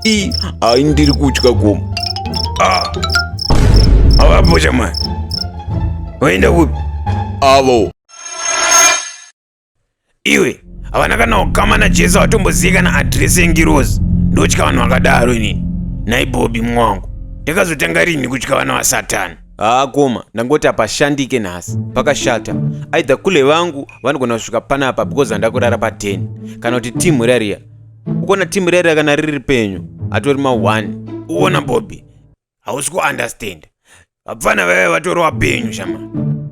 i ai ndiri kutya gomo ah. avapocha mwana waenda kupi avo iwe havana kana ukama najesu vatombozivi kana adresi yengirozi ndotya vanhu vakadaro inini naibobi mwangu ndakazotanga rini kutya vana vasatani haa koma ndangoti hapashandike nhasi pakashata aidha kule vangu vanogona kusvika panapa because handakurara pa 10 kana kuti team rariya ukona team rere kana riri penyu atori ma one uona bobi hausi kuunderstand vapfana vaive vatori vapenyu shama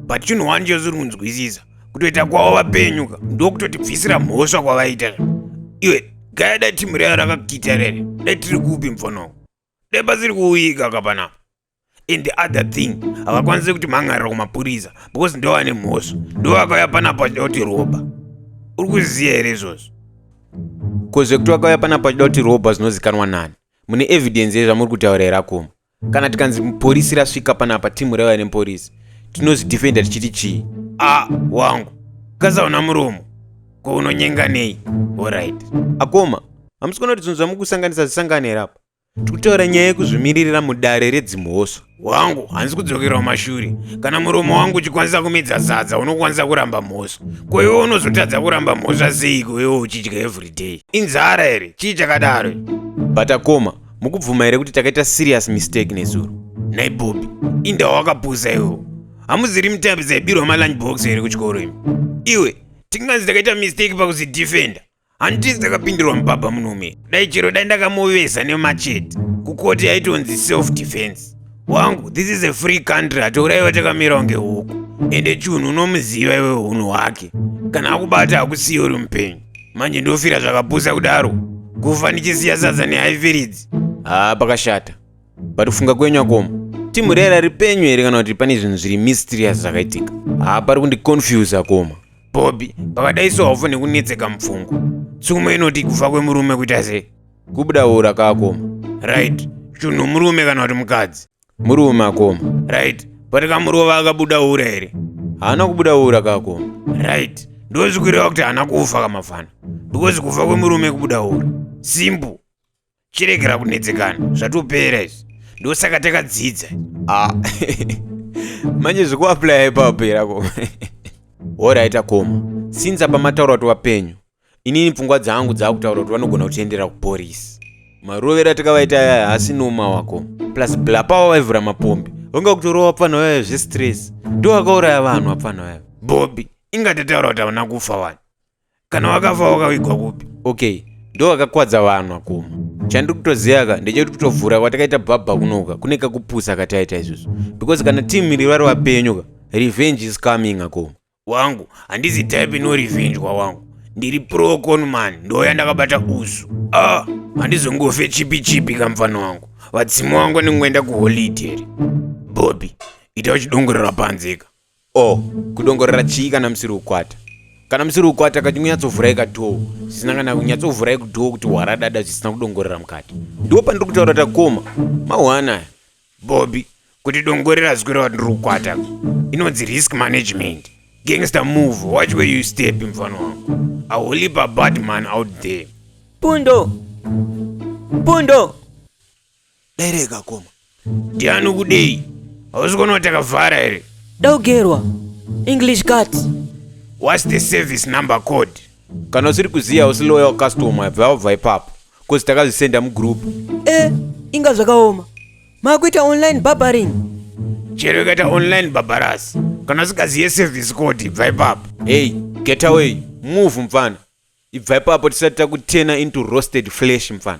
but chinhu one chosiri kunzwisisa kutoita kwavo vapenyu ka ndokutotibvisira mhosva kwavaita iwe gaya dai team rere rakakita rere dai tiri kupi mfono dai pasiri kuuyika kapanapa and the other thing havakwanise kuti mhan'arira kumapurisa because ndo vane mhosva ndo vakauya panapa vachida kuti roba uri kuziva here izvozvo ko zvekuti vakauya panapa vachida kuti roba zvinozikanwa nani mune evidence yezvamuri kutaura here akoma kana tikanzi porisi rasvika panapa timu revane porisi tinozvidefenda tichiti chii a wangu kasaona muromo ko unonyenga nei orit akoma hamusi kuona kuti zvinhu zvamukusanganisa zvisangane here apa Tikutora nyaya yekuzvimiririra mudare redzimhosva. Wangu, hanzi kudzokerawo mashure. Kana muromo wangu uchikwanisa kumedza zadza, unokwanisa kuramba mhosva. Ko iwe unozotadza kuramba mhosva seiko iwe uchidya everyday? Inzara here? Chii chakadaro? Batakoma, mukubvuma here kuti takaita serious mistake nezuro? Nhai Bobby, inda wakapusa iwewo. Hamuziri mitapi dzaibirwa malunch box here kuchikoro imi? Iwe, tinganzi takaita mistake pakuzidefender. Handiti dzakapindirwa mubaba munume. Dai chero dai ndakamuveza nemachete. Kukoti yaitonzi self defense. Wangu, this is a free country hatouraiwa takamira kunge huku. Ende chunhu unomuziva iwe hunhu hwake. Kana akubata hakusiye uri mupenyu. Manje ndofira zvakapusa kudaro. Kufa ndichisiya sadza nehaifiridzi. Haa pakashata. But kufunga kwenyu akoma. Timu rera ripenyu here kana kuti pane zvinhu zviri mysterious zvakaitika. Haa pari kundiconfuse akoma. Bobby, pakadai sohofo nekunetseka mupfungwa. Tsumo inoti kufa kwemurume kuita sei? Kubuda ura kakoma. Right. Chunhu murume kana kuti mukadzi? Murume akoma. Right. Pati kamurova akabuda ura here? Haana kubuda ura kakoma. Right. Ndozvikureva kuti haana kufa kamafana. Because kufa kwemurume kubuda ura. Simple. chiregera kunetsekana zvatopera izvi ndosaka takadzidza ah. manje zvekuaplya ipapera ko horaita koma since apa mataura kuti vapenyu inini pfungwa dzangu dzaakutaura kuti vanogona kutiendera kuporisi marovera takavaita yaya hasi noma wako plus blapawa vaivhura mapombi vanga kutorova apfana vaya zvestress ndo akauraya vanhu apfana vaya bobi ingatataura kuti havana kufa wani kana wakafa wakavigwa kupi okay ndo akakwadza vanhu akoma chandiri kutoziva ka ndechekuti kutovhura kwatakaita bhabha kunoka kune kakupusa kataita izvozvo because kana team iri vari vapenyu ka revenge is coming akoma wangu handizi type no revenge kwawangu ndiri pro conman ndoya ndakabata usu ah handizongofe chipi chipi kamfana wangu vadzimu wangu anengoenda kuholideri bobi ita uchidongorera panzeka O, kudongorera chii kana musiri kukwata? Kana musiri kukwata kati kunyatsovhurai kadhoo zvisina kana kunyatsovhurai kudhoo kuti hwaradada zvisina kudongorera mukati. Ndiwo pandiri kutaura takoma. Mahwana aya. Bobby, kuti dongorera zwi kureva ndiri kukwata. Inonzi risk management. Gangster move, watch where you step mfana wangu. I will leap a bad man out there. Pundo! Pundo! Dai rega koma. Ndiani ukudei? Hausi kuona kuti akavhara here? Daugerwa. English cut. What's the service number code? Kana usiri kuziva usi loyal customer bva wabva ipapo cause takazvisenda mugroup. Eh, inga zvakaoma. Makuita online barbering. Chero ikaita online barbarous. Kana usikazive service code bva ipapo. Hey, get away. Move mfana. Ibva ipapo tisati takutena into roasted flesh mfana.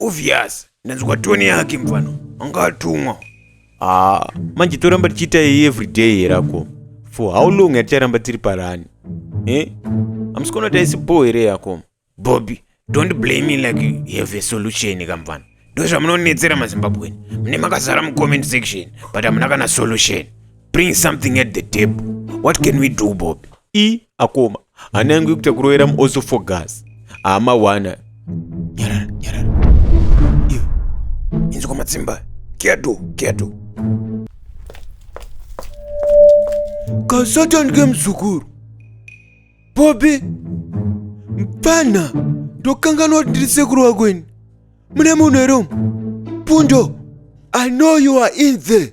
Obvious, ndanzwa tone yake mfana. Anga atumwa. Ah, manje toramba tichiita iyi everyday here ako? For how long yaticharamba tiri parani? Eh? Amusikona taisi bho here yako? Bobby, don't blame me like you have a solution kamfana. Ndozvamunonetsera maZimbabwean. Mune makazara mucomment section, but hamuna kana solution. Bring something at the table. What can we do, Bobby? E akoma hana yangu yekuita kurovera also for gas hama wana nyarara nyarara iyo inzi kwamatsimba kedo kedo kasatan kemzukuru bobi mpfana ndokanganwa kuti ndiri sekuru wako ini mune munhu here umu pundo i know you are in there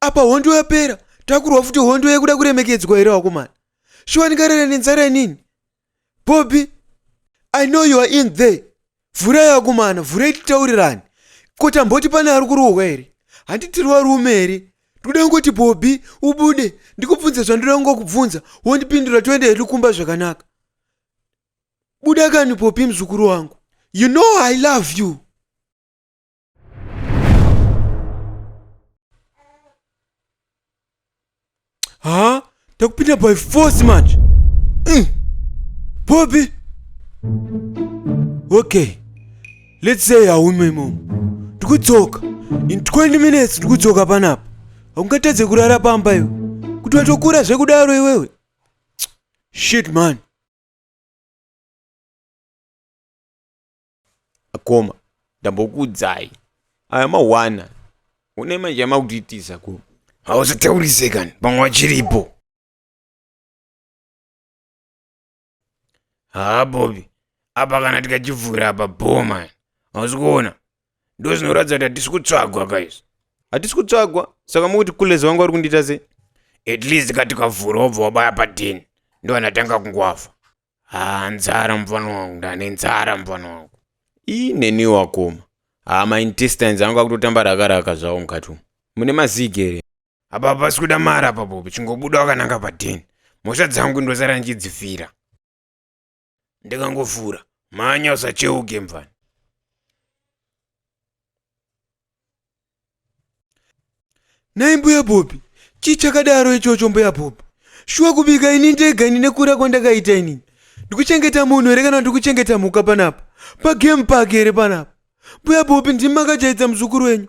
apa hondo yapera takurwa futi hondo yekuda kuremekedzwa here wakomana shuwa ndingarere nenzara inini bobby i know you are in there vhurai akomana vhurai titaurirani ko tamboti pane ari kurohwa here handitiri warume here ndikuda kungoti bobby ubude ndikubvunze zvandoda kungokubvunza wondipindura toenda hedu kumba zvakanaka buda kani popi muzukuru wangu you know i love you haa takupinda by force manje mm. bobi okay let's say haume imomo ndikudzoka in 20 minutes ndikudzoka panapa haungatadze kurara pamba iwe kuti watokura zvekudaro iwewe shit man akoma ndambokuudzai aya mawana une manje amakudiitisa ko hausataurise kani pamwe wachiripo haa bobi apa kana tikachivhura apa bhoma hausi kuona ndo zvinoratidza kuti hatisi kutsvagwa kaizvi hatisi kutsvagwa saka mukuti kulezi wangu ari kundiita sei at least ka tikavhura wobva wabaya padeni ndovanatanga kungoafa haa nzara mufana wangu ndane nzara mufana wangu ii neni wakoma haa maintestines angu akutotamba raka raka zvawo mukati umu mune mazigi here apa pasi kuda mari apa bobi chingobuda wakananga padeni mhosva dzangu ndosara ndichidzifira ndikangofura mhanya usacheuke mfana nhai mbuya bhobi chii chakadaro ichocho mbuya bhobi shuwa kubika ini ndega ini nekura kwandakaita inini ndikuchengeta munhu here kana ndikuchengeta mhuka panapa pagame park here panapa mbuya bhobi ndimi makajaidza muzukuru wenyu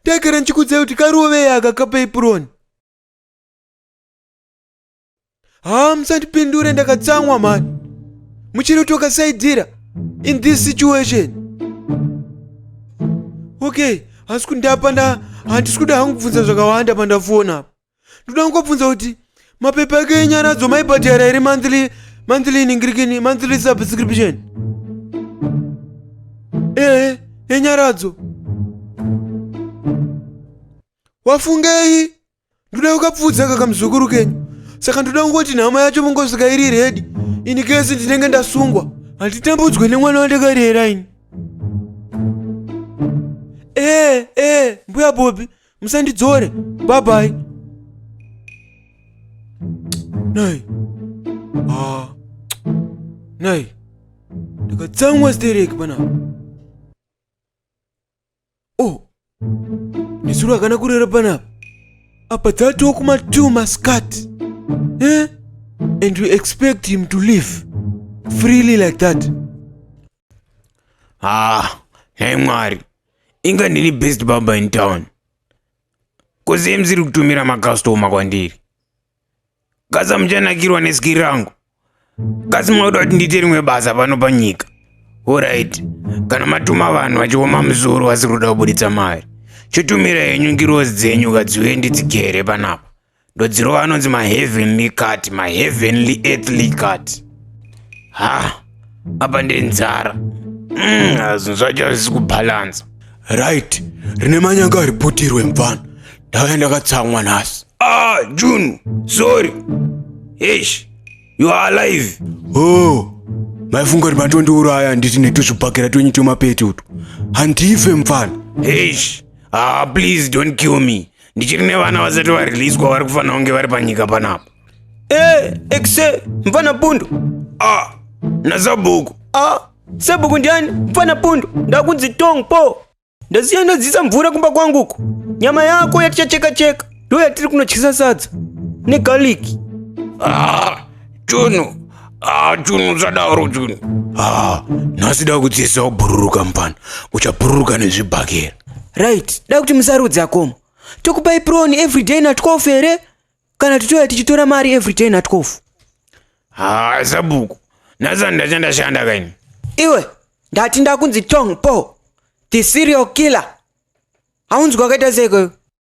ndaigara ndichikudzai kuti karovei aka kapei puroni haa musandipindure ndakatsamwa mani muchiri kuti wakasaidira in this situation okay hasi kundapa nda handisi kuda hangu kubvunza zvakawanda pandafona apa ndoda kungobvunza kuti mapepa ake enyaradzo maibhadhara here monthly monthly iningirikini monthly subscription ehe enyaradzo wafungei ndoda kukapfuudza kaka muzukuru kenyu saka ndoda kungoti nhama yacho mungosvika iri redi ini kesi ndinenge ndasungwa handitambudzwe nemwana wandakarera ini ee eh, ee eh, mbuya bobi musandidzore babai nai ah. nai ndakatsamwa stereki panapa oh nezuro akana kurera panapa apa dzatoo kuma two mascat eh? and we expect him to live freely like that ah nhai mwari inga ndini best baba in town koziyemziri kutumira makastoma kwandiri Gaza muchanakirwa neski rangu. Gaza mwakuda kuti ndiite rimwe basa pano panyika. Alright. Kana matuma vanhu vachioma muzuru vasiri kuda kuburitsa mari. Chotumira henyu ngirozi dzenyu kadziuye ndidzigere panapa. Ndodzirova anonzi maheavenly cut, maheavenly earthly cut. Ha. apa ndiri nzara mm, zvinhu zvacho hazvisi kubhalansa right rine manyanga riputirwe mfana ndauya ndakatsamwa nhasi ah junu sorry hesh you are alive oh maifunga kuti matondiuraya nditi netuzvibhakera twenyu twemapetutu handife mfana hesh ah please don't kill me ndichiri nevana vasati variliswa vari kufanira kunge vari panyika panapa e exe mfana pundu a nasabhuku a sabhuku ndiani mfana pundu ndakunzi tong po ndasiya ndadzisa mvura kumba kwanguko nyama yako yatichacheka cheka ndo yatiri kunotyisa sadza negaliki ah. Junu, ah, Junu usadaro Junu. Ah, nhasi da kudzidzisa kubhururuka mupana. Uchabhururuka nezvibhakera. Right, da kuti musarudze akoma. Tokupai proni every day na 12 here? Kana titoya tichitora mari every day na 12. Ah, sabhuku. Nhasi handachanda shanda kaini. Iwe, ndati ndakunzi Tong Po, the serial killer. Haunzwi wakaita sei ikweyo?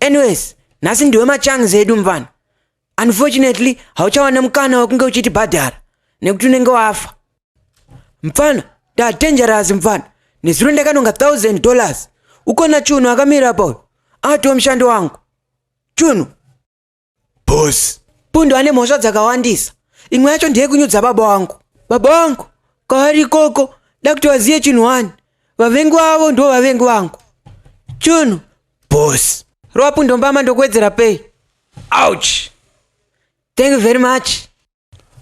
anyways nhasi ndiwe machangs edu mvana unfortunately hauchawana mukana wekunge uchitibhadhara nekuti unenge wafa mfana ndadangerous mfana nezuro ndakanonga 1000 dollars ukona chunhu akamira pauyo atiwo mushandi wangu chunhu boss pundu ane mhosva dzakawandisa imwe yacho ndeyekunyudza baba wangu baba wangu kwavari ikoko da kuti vazive chinhu wani vavengi vavo ndo vavengi vangu chunhu boss rova pundu mbama ndokuwedzera pei ouch thank you very much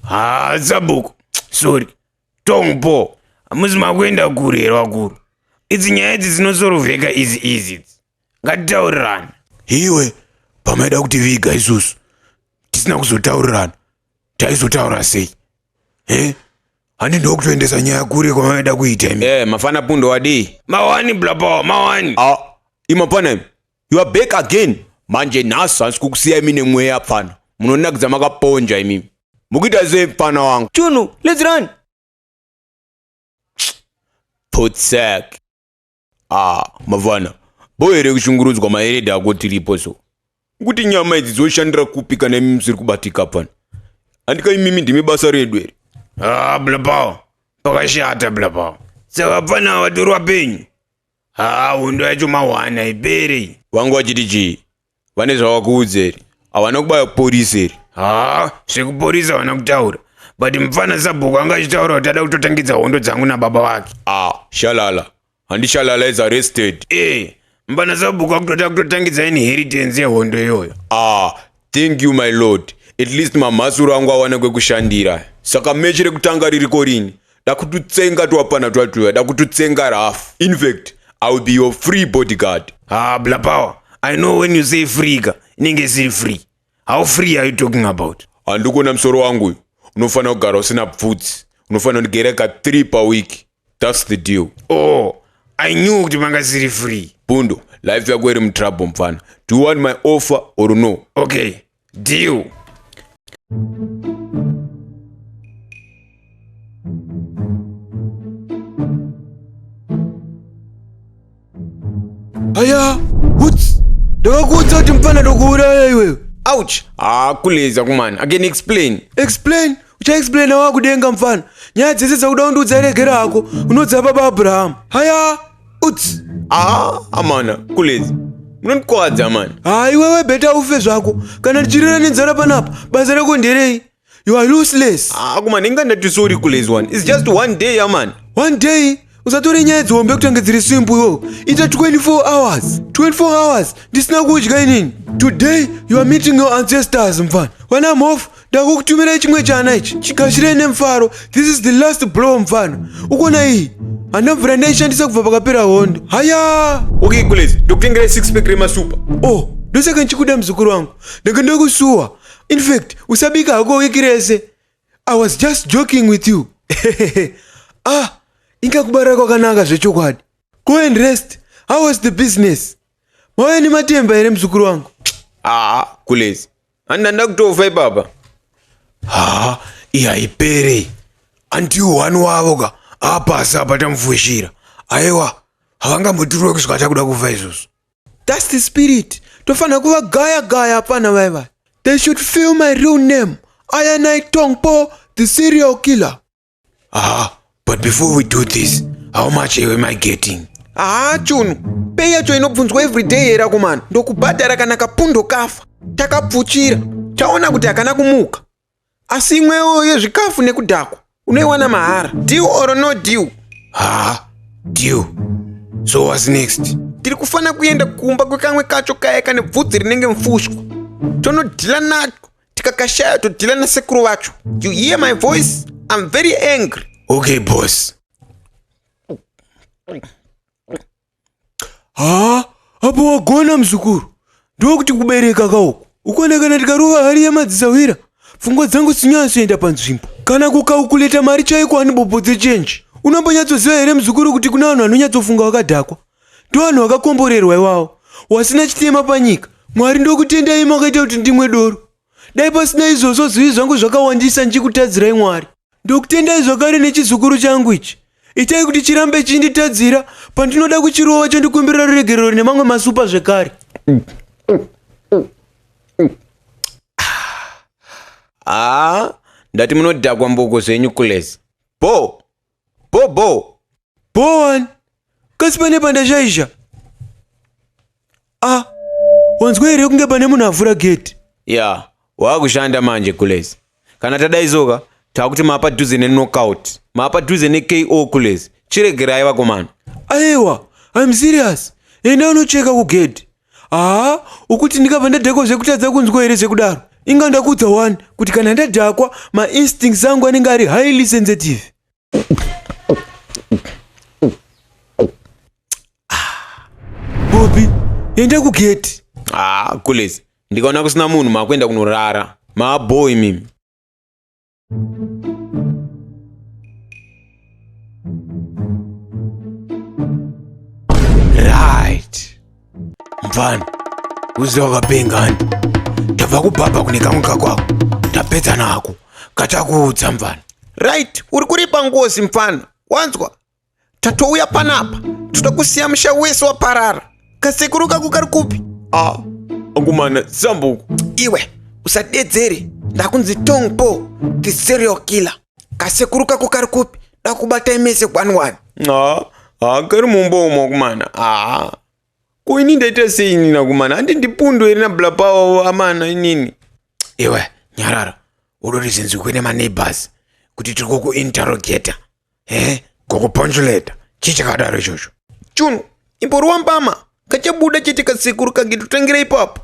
haa sabhuku sorry tongpo hamusi makuenda kure here vakuru idzi nyaya idzi dzinosorovheka izi izi idzi ngatitaurirana iwe pamaida kuti viga isusu tisina kuzotaurirana taizotaura sei he handi ndokutoendesa nyaya kure kwamavaida kuita imi e mafana pundo wadii mawani blapawa mawani a imapana imi You are back again. Manje nhasi hansi kukusiya imi nemweya pfana. Munonakidza makaponja imi. Mukuita sei pfana wangu? Chunu, let's run. Potsek. Ah, mavana. Boy here kushungurudzwa maereda ako tiripo so. Kuti nyama idzi dzoshandira kupi kana imi musiri kubatika pfana. Andika imimi ndimi basa redu here? Ah, blabao. Pakashata blabao. Saka pfana watorwa penyu. haa hondo yacho mawana haipere iyi vangu vachiti chii vane zvavakuudza here havana kubaya kuporisa here haa zvekuporisa havana kutaura but mupfana sabhuku anga achitaura kuti ada kutotangidza hondo dzangu nababa vake ah shalala handi shalala is arrested ee mupfana sabhuku akutoda kutotangidza inheritance yehondo iyoyo ah Thank you my lord. At least mamhasuru angu awana kwekushandira. Saka mechi rekutanga ririko rini? Dakututsenga twapana twatuya, dakututsenga rafu. In fact, I will be your free bodyguard. Ah, bla power. I know when you say free ka, inenge isiri free. How free are you talking about? Handikona msoro wangu uyu. Unofanira kugara usina pfutsi. Unofanira kundigera ka 3 pa week. That's the deal. Oh, I knew kuti manga siri free. Pundo, life yako iri mutrouble mfana. Do you want my offer or no? Okay, deal. Aya, what's? Ndakakuudza kuti mfana ndokuuraya iwewe. Ouch! Ah, kuleza kumana. I can explain. Explain? Uchaexplaina wakudenga mfana. Nyaya dzese dzakuda undiudza regera hako. Unodza baba Abraham. Haya, uts. Ah, amana, kuleza. Munondikwadza amana. Ah, iwewe beta ufe zvako. Kana ndichirera nenzara panapa, basa rako nderei? You are useless. Ah, kuma ndinga ndati sorry kules one. It's just one day, yeah, man. One day? usatore nyaya dzihombe kutange dziri simple iwo ita 24 hours 24 hours ndisina kudya inini today you are meeting your ancestors mfana when i'm off ndakukutumirai chimwe chana ichi chigashirei nemufaro this is the last blow mfana ukona iyi hana mvura ndaishandisa kubva pakapera hondo haya okay kules ndokutengerai 6 pack remasupa oh ndosaka ndichikuda muzukuru wangu ndanga ndakusuwa in fact usabika hako wiki rese i was just joking with you ah inga kubara kwakanaka zvechokwadi go and rest how was the business mauya nematemba here muzukuru wangu aa kulezi handina ndakutofa ipapa haa iyi haipere andiwo wani wavo ka apasi apa tamufushira aiwa havangambotirwe kusvika takuda kufa izvozvo That's the spirit. Tofana kuva gaya gaya apana vai vai. They should feel my real name. Ayanai Tongpo, the serial killer. Ah, but before we do this, how much am I getting? Ah, chunu. Pei yacho inobvunzwa every day here akomana. Ndokubhadhara kana kapundo kafa. Takapfuchira. Taona kuti hakana kumuka. asi imwewo yezvikafu nekudhakwa unoiwana mahara deal or no deal ha deal so whats next tiri kufanira kuenda kumba kwekamwe kacho kaya kane bvudzi rinenge mfushwa tonodhila nacho tikakashaya todhila nasekuru vacho you hear my voice i'm very angry okay boss haa apo wagona muzukuru ndokuti kubereka kauku ukonekana ndikarova hari yemadzisahwira pfungwa dzangu sinyatsoenda panzvimbo kana kukaukuleta mari chaiko ani bopo dzechenji unombonyatsoziva here muzukuru kuti kuna vanhu vanonyatsofunga wakadhakwa ndovanhu vakakomborerwa iwawo wasina chitema panyika mwari ndokutendai makaita kuti ndimwe doro Dai pasina izvozvo zvivi zvangu zvakawandisa ndichikutadzirai Mwari. Ndokutendai zvakare nechizukuru changu ichi. Itai kuti chirambe chinditadzira pandinoda kuchirova chondikumbirira ruregerero nemamwe masupa zvekare. Ah, ndati munodhakwa mboko zvenyu kulezi. Bho! Bho bho. Bho wani. Kasi pane pandashaisha. Ah. Wanzwa here kunge pane munhu avhura gate? Ya. Yeah. Waakushanda manje kulezi. Kana tadaizoka takuti mapa dhuze ne knockout. Mapa dhuze ne KO kulezi. Chiregerai vakomana. Aiwa. I'm serious. Enda unocheka kugedhi. haa ukuti ndikabva ndadhakwa zvekutadza kunzwa here zvekudaro inga ndakudza wani kuti kana ndadhakwa mainstincts angu anenge ari highly sensitive ah, bobi enda kugeti haa ah, kules ndikaona kusina munhu maakuenda kunorara maaboi mimi right mfana uziva wakapengani tabva kubhabha kune kamwe kakwako tapedza nako kachakuudza mfana right uri kuripa ngozi mfana wanzwa tatouya panapa toda kusiya musha wese waparara kasekuru kako kari kupi ah angumana zambuku iwe usadedzere ndakunzi tong po the serial killer kasekuru kako kari kupi dakubatai mese kwanwani ah ah kari mumba umo akumana ah ko ini ndaita sei inini akumana handi ndipundo here nablapawo amana inini iwe nyarara udorizenzwi kune maneighbors kuti tiri kukuinterrogator he gokuponjuleta chii chakadaro ichocho chunhu imboriwa mbama kachabuda chete kasekuru kange totangira ipapo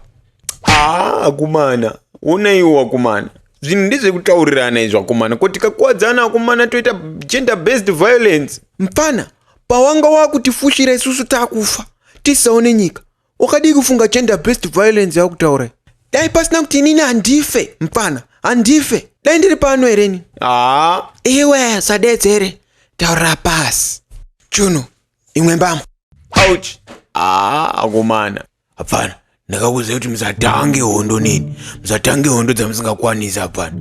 haa akumana onaiwo wakumana zvinhu ndezvekutaurirana izvo akomana ko tikakuwadzana akomana toita gender based violence mpfana pawanga wakutifushira isusu takufa tisaone nyika wakadii kufunga gender based violence yakutaura dai pasina kuti inini handife mpfana handife dai ndiri pano hereni haa iwe sadedzere taurira pasi chunu imwe mbama ouch haa akomana hapfana ndakakuziva kuti musatange hondo nini musatange hondo dzamusingakwanisi hapfana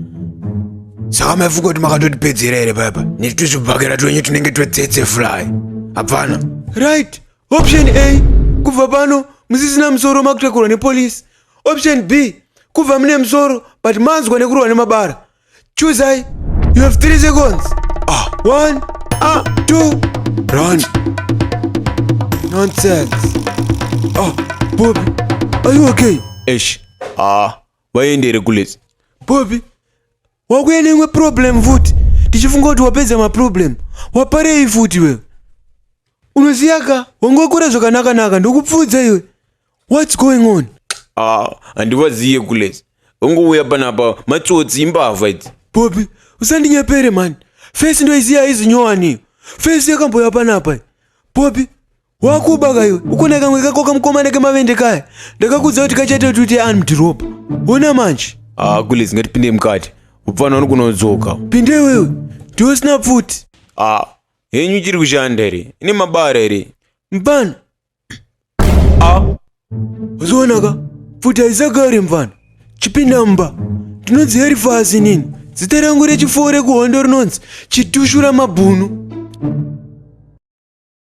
saka maifunga kuti makatotipedzera here paipa neti tuzvibhakera twenyu tunenge twetsetse fly hapfana right Option A, kubva pano musisina musoro makutakurwa nepolice. Option B, kubva mune musoro but manzwa nekurwa nemabara. Choose I. You have 3 seconds. Ah, 1, ah, 2, run. Nonsense. Ah, Bobby, are you okay? Eish. Ah, vaendere kulezi. Bobby, wakuya neimwe problem futi ndichifunga kuti wapedza maproblem waparei futi wewe unoziva ka wangokura zvakanakanaka ndokupfuudza iwe whats going on ah handivaziye kules ungouya panapa matsotsi imbavha idzi bobi usandinyepere mani fesi ndoiziva aizinyowaniyo fesi yakamboya panapa bobi wakuba kayo ukona kamwe kako kamukomana kemavende kaya ndakakudza kuti kachaita kuti anmdhiropa ona manje ah kule zingatipinde mukati upfana uri kunodzoka pinde wewe ndiosina pfuti ah henyu ichiri kushanda here ine mabara here mfana ah uzionaka pfuti haisagari mfana chipinda mumba ndinonzi heri fasi nini zita rangu rechifoo rekuhondo rinonzi chitushura mabhunu